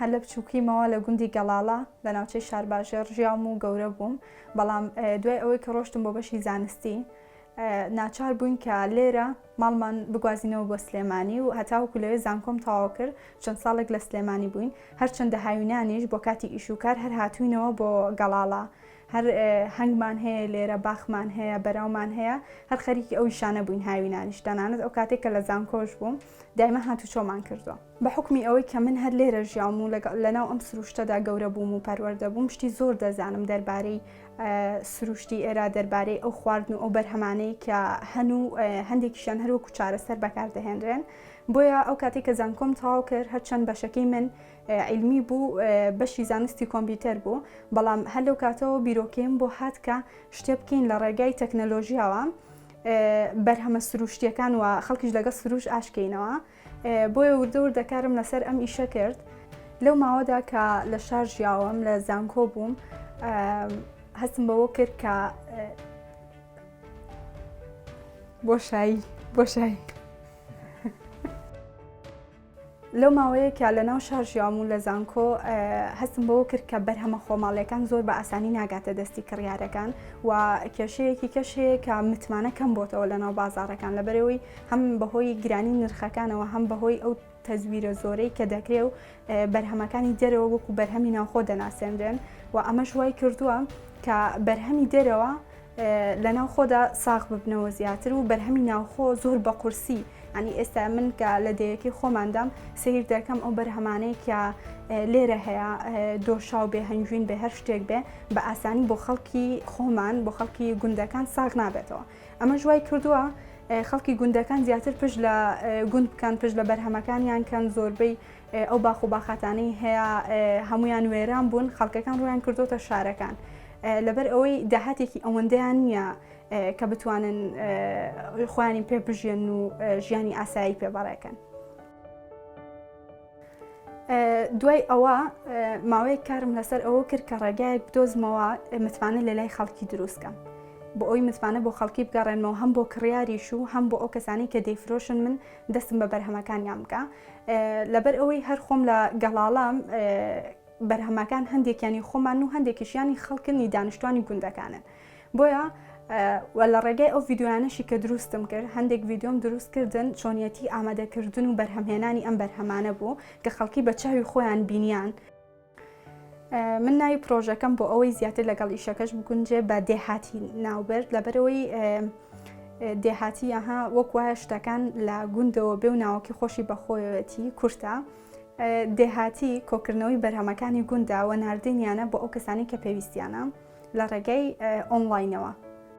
هەر لە بچووکیمەوە لە گوندی گەڵاڵە لە ناوچەی شارباژێڕ ژیاوم و گەورە بووم بەڵام دوای ئەوەی کە ڕۆشتم بۆ بەشی زانستی ناچار بووین کە لێرە ماڵمان بگوازینەوە بۆ سلێمانی و هەتاوکو لەوێ زانکۆم تەواو کرد چەند ساڵێک لە سلێمانی بووین هەرچەندە هاوینانیش بۆ کاتی ئیشوکار هەر هاتوینەوە بۆ گەڵاڵە هەر هەنگمان هەیە لێرە، باخمان هەیە، بەراومان هەیە، هەر خەریکی ئەو ئیشانە بووین هاوینانیش، تەنانەت ئەو کاتەی کە لە زانکۆش بووم دایمە هاتوچۆمان کردووە. بە حوکمی ئەوەی کە من هەر لێرە ژیاوم و لەناو ئەم سروشتەدا گەورە بووم و پەروەردە بووم، شتی زۆر دەزانم دەربارەی سروشتی ئێرە، دەربارەی ئەو خواردن و ئەو بەرهەمانەی کە هەن و هەندێکیشیان هەر وەکوو چارەسەر بەکاردەهێنرێن. بۆیە ئەو کاتەی کە زانکۆم تەواو کرد، هەرچەند بەشەکەی من عیلمی بوو بەشی زانستی کۆمپیوتەر بوو بەڵام هەر لەو کاتەوە بیرۆکەیم بۆ هات کە شتێ بکەین لە ڕێگای تەکنەلۆژیاوە بەرهەمە سروشتیەکان و خەڵکیش لەگەڵ سروش ئاشکەینەوە بۆیە وردەور دەکارم لەسەر ئەم ئیشە کرد لەو ماوەدا کە لە شار ژیاوەم لە زانکۆ بووم هەستم بەوە کرد کە بۆشایی بۆشایی لەو ماوەیە کە لە ناو شار ژیاوم و لە زانکۆ هەستم بەوە کرد کە بەرهەمە خۆماڵیەکان زۆر بە ئاسانی ناگاتە دەستی کڕیارەکان و کێشەیەکی کەش هەیە کە متمانە کەم بۆتەوە لە ناو بازارەکان لە بەرەوەی هەم بەهۆی گرانی نرخەکانەوە هەم بەهۆی ئەو تەزویرە زۆرەی کە دەکرێ و بەرهەمەکانی دەرەوە وەکو بەرهەمی ناوخۆ دەناسێنرێن و ئەمەش وای کردووە کە بەرهەمی دەرەوە لە ناوخۆدا ساغ ببنەوە زیاتر و بەرهەمی ناوخۆ زۆر بە قورسی ئەنی ئێستا من کە لە دەیەکی خۆماندام سیر دەکەم ئەو بەرهەمانەی کە لێرە هەیە دۆشاو بێ هەنگوین بێ هەر شتێک بێ بە ئاسانی بۆ خەڵکی خۆمان بۆ خەڵکی گوندەکان ساغ نابێتەوە ئەمە ژوای کردووە خەڵکی گوندەکان زیاتر پشت لە گوند بکەن پشت لە بەرهەمەکانیان کەن زۆربەی ئەو باخ و باخاتانەی هەیە هەمویان وێران بوون خەڵکەکان ڕویان کردوتە شارەکان لەبەر ئەوەی داهاتێکی ئەوەندەیان نییە کە بتوانن خوانی پێ بژێن و ژیانی ئاسایی پێ بەڕێکەن. دوای ئەوە ماوەیە کارم لەسەر ئەوە کرد کە ڕێگایەک بدۆزمەوە متمانە لە لای خەڵکی دروستکەم. بۆ ئەوی متمانە بۆ خەڵکی بگەڕێنەوە هەم بۆ کڕیاریش و هەم بۆ ئەو کەسانی کە دەیفرۆشن من دەستم بە بەرهەمەکانیان بکە لەبەر ئەوەی هەر خۆم لە گەڵاڵام بەرهەمەکان هەندێکیانی خۆمان و هەندێکیشیانی خەڵکنی دانیشتوانی گوندەکانن بۆیە و لە ڕێگەی ئەو یددیویانەشی کە دروستم کرد هەندێک یددیۆم دروست کردن چۆنیەتی ئامادەکردن و بەرهەمهێنانی ئەم بەرهەمانە بوو کە خەڵکی بە چاوی خۆیان بینیان. من ناوی پرۆژەکەم بۆ ئەوەی زیاتر لەگەڵ ئیشەکەش بگونجێ بە دێهاتی ناوبرد لەبەرەوەی دێهاتی یاها وەک وایە شتەکان لە گوندەوە بێ و ناوەکی خۆشی بەخۆیەتی کورتە دێهاتی کۆکردنەوەی بەرهەمەکانی گونداوە نردینیانە بۆ ئەو کەسانی کە پێویستیانە لە ڕێگەی ئۆنلاینەوە.